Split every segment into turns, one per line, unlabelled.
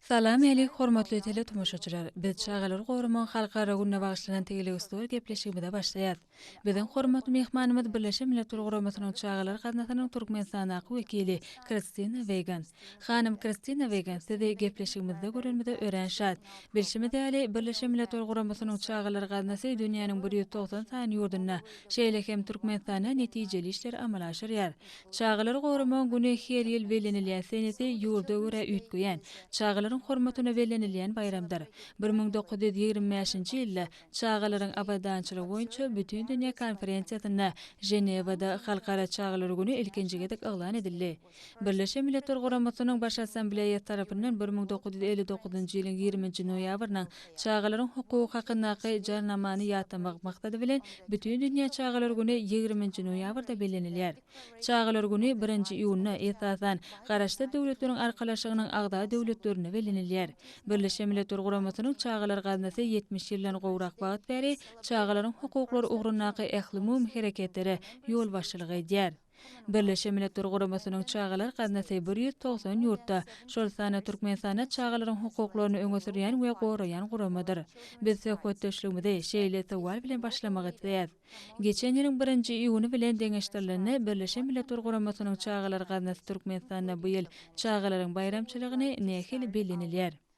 Salam älik
hormatly teletomaşaçylar! Biz çagalary goramagyň halkara gününe bagyşlanan tegeleustuwar gepleşigimize başlaýas. Biziň hormatly myhmanymyz Birleşen Milletler Guramasynyň Çagalar gaznasynyň Türkmenistandaky wekili Kristina Weýgan. Hanym Kristina Weýgan, sizi gepleşigimizde görenimize örän şat. Bilşimiz ýaly, Birleşen Milletler Guramasynyň Çagalar gaznasy dünýäniň bir ýüz togsan sany ýurdunda, şeýle hem Türkmenistanda netijeli işleri amala aşyrýar. Çagalary goramagyň güni her ýyl bellenilýär, senesi ýurda görä üýtgeýän, çagalaryň hormatyna bellenilýän baýramdyr. Bir müň dokuz ýüz ýigrimi bäşinji ýylda Çagalaryň abadançylygy boýunça Bütindünýä konferensiýasynda Ženewada Halkara çagalar güni ilkinji gezek yglan edildi. Birleşen Milletler Guramasynyň Baş Assambleýasy tarapyndan bir müň dokuz ýüz elli dokuzynjy ýylyň ýigriminji noýabrynyň Çagalaryň hukugy hakyndaky Jarnamany ýatlamak maksady bilen Bütindünýä çagalar güni ýigriminji noýabrda bellenilýär. Çagalar güni birinji iýunda, esasan, Garaşsyz Döwletleriň Arkalaşygynyň agza döwletlerinde bellenilýär. Birleşen Milletler Guramasynyň Çagalar Gaznasy ýetmiş ýyldan gowrak wagt bäri çagalaryň hukuklary ugrundaky ählumumy hereketlere ýolbaşçylyk edýär. Birleşen Milletler Guramasynyň Çagalar gaznasy bir ýüz togsan ýurtda, şol sanda Türkmenistanda çagalaryň hukuklaryny öňe sürýän we goraýan guramadyr. Biz söhbetdeşligimizi şeýle sowal bilen başlamak isleýäs, Geçen ýylyň birinji iýuny bilen deňeşdirilende, Birleşen Milletler Guramasynyň Çagalar gaznasy Türkmenistanda bu ýyl çagalaryň baýramçylygyny nähili bellenilýär?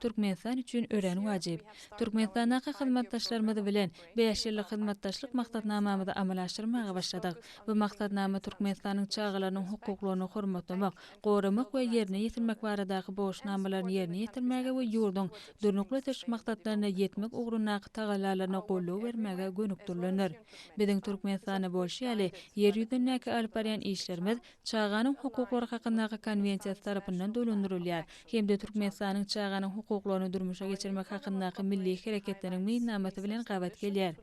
Türkmenistan üçin örän wajyp. Türkmenistandaky hyzmatdaşlarymyz bilen bäş ýyllyk hyzmatdaşlyk maksatnamamyzy amala aşyrmaga başladyk. Bu maksatnama Türkmenistanyň çagalarynyň hukuklaryny hormatlamak, goramak we ýerine ýetirmek baradaky borçnamalaryny ýerine ýetirmäge we ýurduň Durnukly ösüş maksatlaryna ýetmek ugrundaky tagallalaryna goldaw bermäge gönükdirilendir. Biziň Türkmenistanda bolşy ýaly, Ýer ýüzündäki alyp barýan işlerimiz Çaganyň hukuklary hakyndaky Konwensiýasy tarapyndan dolandyrylýar hem-de Türkmenistanyň Çaganyň hukuklaryny durmuşa geçirmek hakyndaky Milli hereketiniň meýilnamasy bilen gabat gelýär.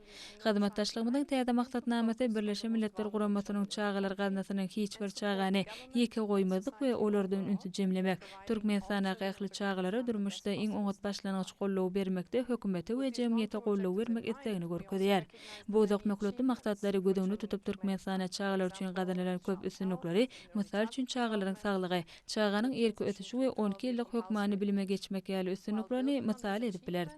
Hyzmatdaşlygymyzyň täze maksatnamasy Birleşen Milletler Guramasynyň Çagalar Gaznasynyň hiç bir çagany ýeke goýmazlyk we olardan ünsi jemlemek, Türkmenistandaky ähli çagalara durmuşda iň oňat başlangyç gollugy bermekde hökümete we jemgyýete golluw bermek islegini görkezýär. Bu uzak möhletli maksatlary göz öňünde tutup Türkmenistanda çagalar üçin gazanylan köp üstünlikleri, mysal üçin çagalaryň saglygy, çaganyň irki ösüşi we on iki ýyllyk hökmany bilime geçmek ýaly üstünliklerini mysal edip bileris.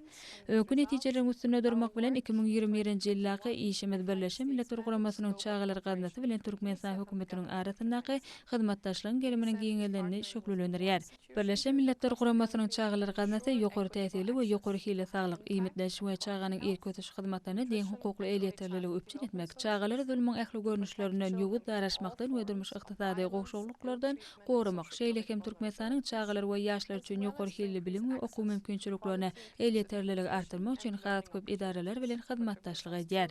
Öňki netijeleriň üstünde durmak bilen iki müň ýigrimi birinji ýyldaky işimiz Birleşen Milletler Guramasynyň Çagalar Gaznasy bilen Türkmenistan Hökümetiniň arasyndaky hyzmatdaşlygyň geriminiň giňeldenini şöhlelendirýär. Birleşen Milletler Guramasynyň Çagalar gaznasy ýokary täsirli we ýokary hilli saglyk, iýmitleniş we çaganyň irki ösüş hyzmatlaryna deň hukukly elýeterliligi üpjün etmek, çagalary zulmuň ähli görnüşlerinden, ýowuz daraşmakdan we durmuş-ykdysady gowşaklyklardan goramak, şeýle hem Türkmenistanyň çagalar we ýaşlar üçin ýokary hilli bilim we okuw mümkinçiliklerine elýeterliligi artdyrmak üçin has köp edaralar bilen hyzmatdaşlyk edýär.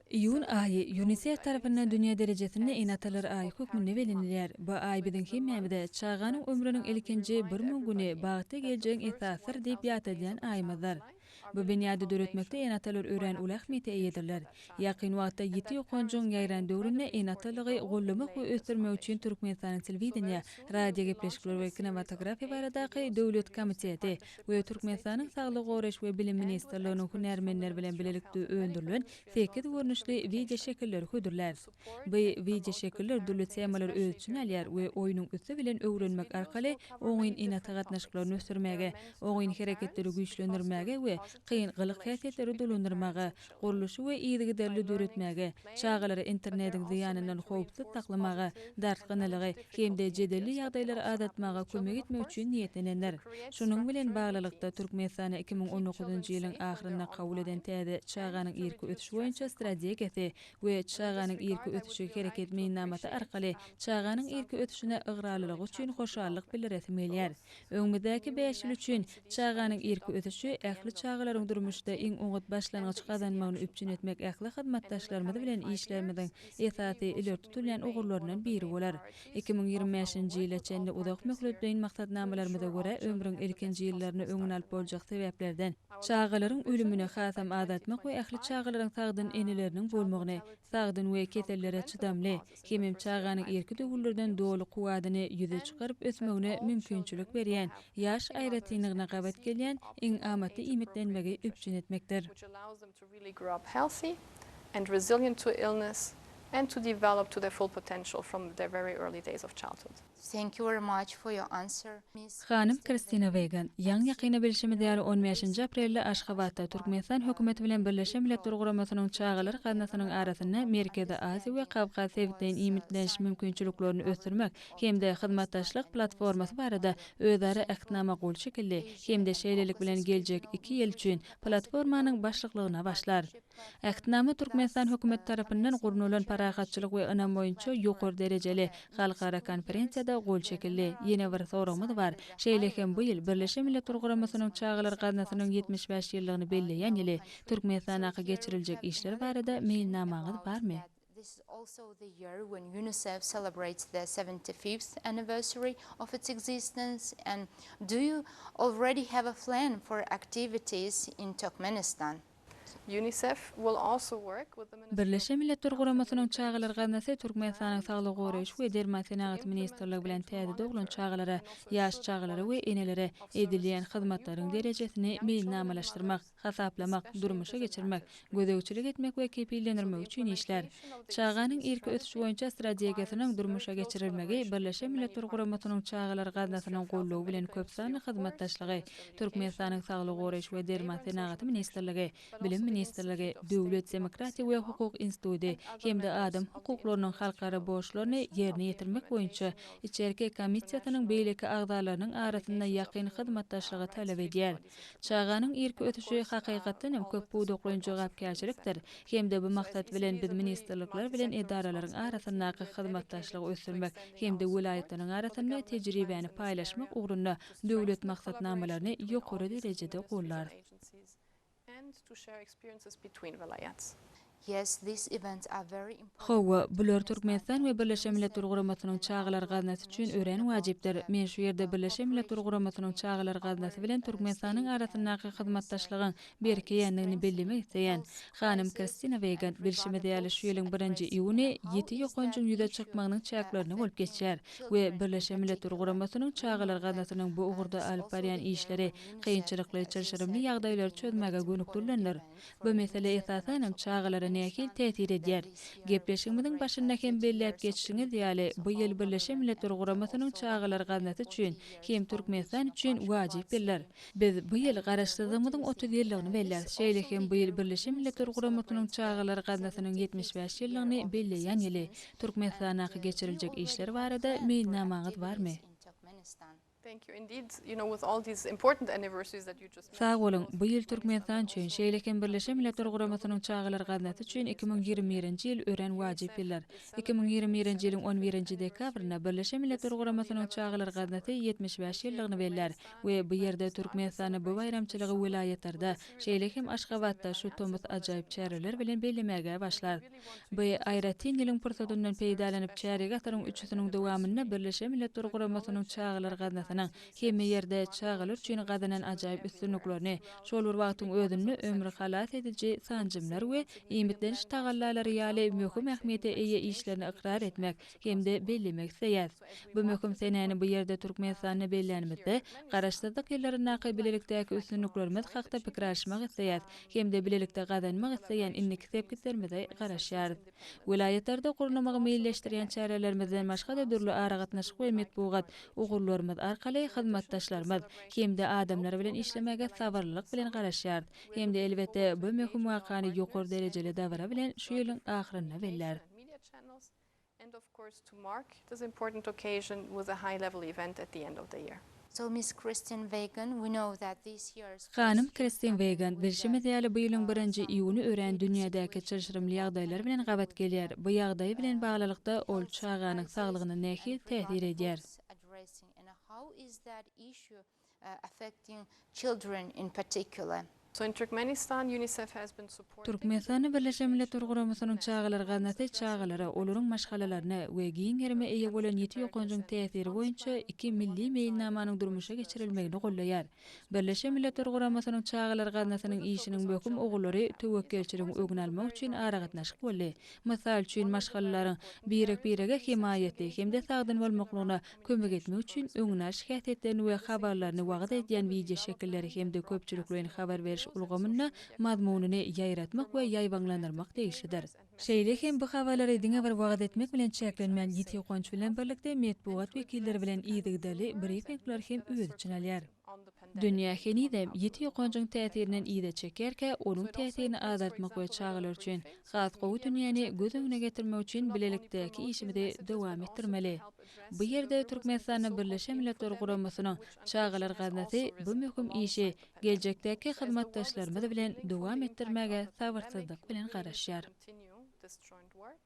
Iýun aýy
Ýunisef tarapyndan dünýä derejesinde Ene-atalar aýy hökmünde bellenilýär. Bu aý biziň hemmämize Çaganyň ömrüniň ilkinji bir müň güni bagtly geljegiň esasydyr diýip ýatladýan aýymyzdyr. Bu binýady döretmekde ene-atalar örän uly ähmiýete eýedirler. Ýakyn wagtda ýiti ýokanjygyň ýaýran döwründe ene-atalygy gollamak we ösdürmek üçin Türkmenistanyň Telewideniýe, radiogepleşikler we kinematografiýa baradaky döwlet komiteti, we Türkmenistanyň Saglygy goraýyş we bilim ministrliginiň hünärmenleri bilen bilelikde öndürilen sekiz görnüşli wideoşekilleri hödürlär. Bu wideoşekiller dürli temalary öz içine alýar we oýnuň üsti bilen öwrenmek arkaly oňyn ene-ata gatnaşyklaryny ösdürmäge, oňyn hereketleri güýçlendirmäge we kyn gylyk-häsiýetleri dolandyrmaga, gurluşy we yzygiderli döretmäge, çagalary internetiň zyýanyndan howpsuz saklamaga, dartgynlylygy hem-de jedelli ýagdaýlary azaltmaga kömek etmek üçin niýetlenendir. Şunuň bilen baglylykda, Türkmenistanda iki müň on dokuzynjy ýylyň ahyrynda kabul eden täze Çaganyň irki ösüşi boýunça strategiýasy we Çaganyň irki ösüşi hereket meýilnamasy arkaly çaganyň irki ösüşine ygrarlylygy üçin hoşallyk bildiresim gelýär. Öňümizdäki bäş ýyl üçin Çaganyň irki ösüşi ähli çagalaryň durmuşda iň oňat başlangyç gazanmagyny üpjün etmek ähli hyzmatdaşlarymyz bilen işlerimiziň esasy ileri tutulýan ugurlaryndan biri bolar. Iki müň ýigrimi bäşinji ýyla çenli uzak möhletleýin maksatnamalarymyza görä ömrüň ilkinji ýyllaryny öňüni alyp boljak sebäplerden, çagalaryň ölümini hasam azaltmak we ähli çagalaryň sagdyn eneleriniň bolmagyny, sagdyn we kesellere çydamly, hemem çaganyň irki döwürlerden doly kuwwadyny ýüze çykaryp ösmegine mümkinçilik berýän ýaş aýratynlygyna gabat gelýän iň amatly iýmitlenmegi üpjün
etmekdir. Thank you very much
for your answer, Miss Hanym Kristina
Wegan, Ýaňy-ýakynda bilşimiz ýaly on bäşinji aprelde Aşgabatda Türkmenistan hökümeti bilen Birleşen Milletler Guramasynyň Çagalar gaznasynyň arasynda Merkezi Aziýa we Kawkaz sebitleýin iýmitleniş mümkinçiliklerini ösdürmek hem-de hyzmatdaşlyk platformasy barada özara Ähtnama gol çekildi hem-de şeýlelik bilen geljek iki ýyl üçin platformanyň başlyklygyna başlar. Ähtnama Türkmenistan hökümeti tarapyndan gurnalan Parahatçylyk we ynam boýunça ýokary derejeli halkara konferensiýada gol çekildi. Ýene bir soragymyz bar, şeýle hem bu ýyl Birleşen Milletler Guramasynyň Çagalar gaznasynyň ýetmiş bäş ýyllygyny belleýän ýyly. Türkmenistandaky geçiriljek işler barada meýilnamaňyz barmy? This is also
the year when UNICEF celebrates their seventy fifth anniversary of its existence and do you already have a flan for activities in Turkmenistan? UNICEF
will also work with the Ministry of Birleşen Milletler Guramasynyň
Çagalar gaznasy Türkmenistanyň Saglygy goraýyş we derman senagaty ministrligi bilen täze doglan çagalara, ýaş çagalara we enelere edilýän hyzmatlaryň derejesini meýilnamalaşdyrmak, hasaplamak, durmuşa geçirmek, gözegçilik etmek we kepillenirmek üçin işlär. Çaganyň irki ösüşi boýunça strategiýasynyň durmuşa geçirilmegi Birleşen Milletler Guramasynyň Çagalar gaznasynyň goldawy bilen köpsanly hyzmatdaşlygy Türkmenistanyň Saglygy goraýyş we derman senagaty ministrligi, Bilim ministrligi, Döwlet, demokratiýa we hukuk instituty hem-de Adam hukuklarynyň halkara borçlaryny ýerine ýetirmek boýunça içerki komissiýasynyň beýleki agzalarynyň arasynda ýakyn hyzmatdaşlygy talap edýär. Çaganyň irki ösüşi hakykatdan hem köp pudaklaýyn jogapkärçilikdir hem-de bu maksat bilen biz ministrlikler bilen edaralaryň arasyndaky hyzmatdaşlygy ösdürmek hem-de welaýatlaryň arasynda tejribäni paýlaşmak ugrunda döwlet maksatnamalaryny ýokary derejede
gollarys. Yes, these
events are very important for Hawa, bular
Türkmenistan we Birleşen Milletler Guramasynyň Çagalar Gaznasy üçin örän wajypdyr. Men şu ýerde Birleşen Milletler Guramasynyň Çagalar Gaznasy bilen Türkmenistanyň arasyndaky hyzmatdaşlygyň berkeýändigini bellemek isleýän. Hanym Kristina Weýgan, bilşimiz ýaly, şu ýylyň birinji iýuny ýiti ýokanjyň ýüze çykmagynyň çäklerinde bolup geçýär we Birleşen Milletler Guramasynyň Çagalar Gaznasynyň bu ugurda alyp barýan işleri kynçylykly, çylşyrymly ýagdaýlary çözmäge gönükdirilendir. Bu mesele esasanam çagalara nähili täsir edýär? Gepleşigimiziň başynda hem belläp geçişiňiz ýaly, bu ýyl Birleşen Milletler Guramasynyň Çagalar gaznasy üçin hem Türkmenistan üçin wajyp ýyldyr. Biz bu ýyl Garaşsyzlygymyzyň otuz ýyllygyny belläris, şeýle hem bu ýyl Birleşen Milletler Guramasynyň Çagalar gaznasynyň ýetmiş bäş ýyllygyny belleýän ýyly. Türkmenistandaky geçiriljek işler barada meýilnamaňyz barmy?
Sag boluň, bu ýyl
Türkmenistan üçin, şeýle hem Birleşen Milletler Guramasynyň Çagalar gaznasy üçin iki müň ýigrimi birinji ýyl örän wajyp ýyldyr. Iki müň ýigrimi birinji ýylyň on birinji dekabrynda Birleşen Milletler Guramasynyň Çagalar gaznasy ýetmiş bäş ýyllygyny bellär we bu ýerde Türkmenistanda bu baýramçylygy welaýatlarda, şeýle hem Aşgabatda şu tomus ajaýyp çäreler bilen bellemäge başlar. By aýratyn ýylyň pursatyndan peýdalanyp, çärýek asyryň üçüsiniň dowamynda Birleşen Milletler Guramasynyň Çagalar gaznasynyň hemme ýerde çagalar üçin gazanan ajaýyp üstünliklerini, şol bir wagtyň özünde ömri halas ediji sanjymlar we iýmitleniş tagallalary ýaly möhüm ähmiýete eýe işlerini ykrar etmek hem-de bellemek isleýäs. Bu möhüm senäni bu ýerde Türkmenistanda bellänimizde, Garaşsyzlyk ýyllaryndaky bilelikdäki üstünliklerimiz hakda pikir alyşmak isleýäs hem-de bilelikde gazanmak isleýän indiki sepgitlerimize garaşýarys. Welaýatlarda gurnamagy meýilleşdirýän çärelerimizden başga-da dürli aragatnaşyk we metbugat ugurlarymyz arkaly hyzmatdaşlarymyz hem-de adamlar bilen işlemäge sabyrlylyk bilen garaşýarys hem-de elbetde bu möhüm wakany ýokary derejeli dabara bilen şu ýylyň ahyrynda belläris.
And of course to mark this important occasion with a high level event at the end of the year. So Miss Kristen
Wegan, we know that this year's first Iýun Hanym Kristen
Wegan, bilşimiz ýaly bu ýylyň birinji iýuny örän dünýädäki çylşyrymly ýagdaýlar bilen gabat gelýär. Bu ýagdaýy bilen baglylykda ol çaganyň saglygyna nähili täsir edýär?
affecting children in particular. So in Turkmenistan,
UNICEF has been supporting. Türkmenistanda Birleşen
Milletler Guramasynyň Çagalar gaznasy çagalara, olaryň maşgalalaryna we giň gerime eýe bolan ýiti ýokanjyň täsiri boýunça iki milli meýilnamanyň durmuşa geçirilmegini goldaýar. Birleşen Milletler Guramasynyň Çagalar gaznasynyň işiniň möhüm ugurlary töwekgelçiligiň öňüni almak üçin aragatnaşyk boldy, mysal üçin, maşgalalaryň birek-birege hemaýaty hem-de sagdyn bolmaklygyna kömek etmek üçin öňüni alyş häsiýetlerini we habarlaryny wagyz edýän wideoşekilleri hem-de köpçülikleýin habar beriş ulgamynda mazmunyny ýaýratmak we ýaýbaňlandyrmak degişlidir. Şeýle hem bu habarlary diňe bir wagyz etmek bilen çäklenmän, ýiti uganç bilen birlikde metbugat wekilleri bilen yzygiderli brifingleri hem öz içine alýar. Dünýä henizem ýiti ýokanjyň täsirinden yza çekerkä, onuň täsirini azaltmak we çagalar üçin has gowy dünýäni göz öňüne getirmek üçin bilelikdäki işimizi dowam etdirmeli. Bu ýerde Türkmenistanda Birleşen Milletler Guramasynyň Çagalar gaznasy bu möhüm işi geljekdäki hyzmatdaşlarymyz bilen dowam etdirmäge sabyrsyzlyk bilen garaşýar.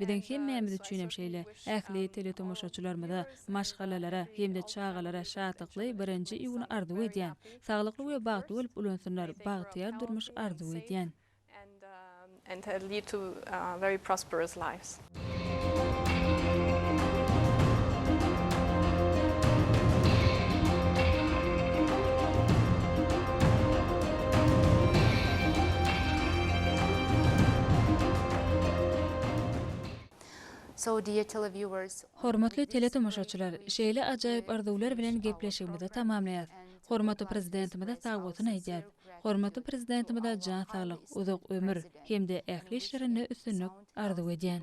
Biziň hemmämiz üçinem şeýle. Ähli teletomaşaçylarymyza, maşgalalara hem-de çagalara şatlykly birinji iýuny arzuw edýän. Saglykly we bagtly bolup ulansynlar, bagtyýar durmuş arzuw edýän.
Hormatly
teletomaşaçylar, şeýle ajaýyp arzuwlar bilen gepleşigimizi tamamlaýas. Hormatly Prezidentimize sagbolsun aýdýas. Hormatly Prezidentimize jan saglyk, uzak ömür hem-de ähli işlerinde üstünlik arzuw edýän.